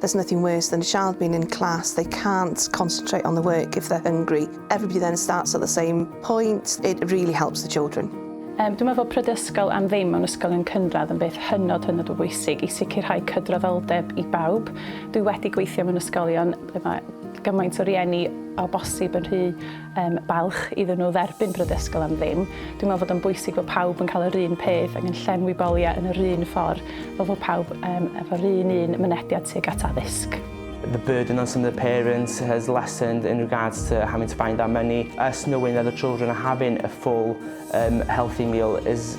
There's nothing worse than a child being in class, they can't concentrate on the work if they're hungry. Everybody then starts at the same point, it really helps the children. Um, dwi'n meddwl pryd ysgol am ddim mewn ysgolion cynradd yn beth hynod hynod o bwysig i sicrhau cydraddoldeb i bawb. Dwi wedi gweithio mewn ysgolion ble mae gymaint o rieni o bosib yn rhy um, balch iddyn nhw dderbyn brydysgol am ddim. Dwi'n meddwl fod o'n bwysig bod pawb yn cael yr un peth ac yn llenwi boliau yn yr un ffordd fel fod pawb um, efo'r un un mynediad tuag at addysg. The burden on some of the parents has lessened in regards to having to find that money. Us knowing that the children are having a full um, healthy meal is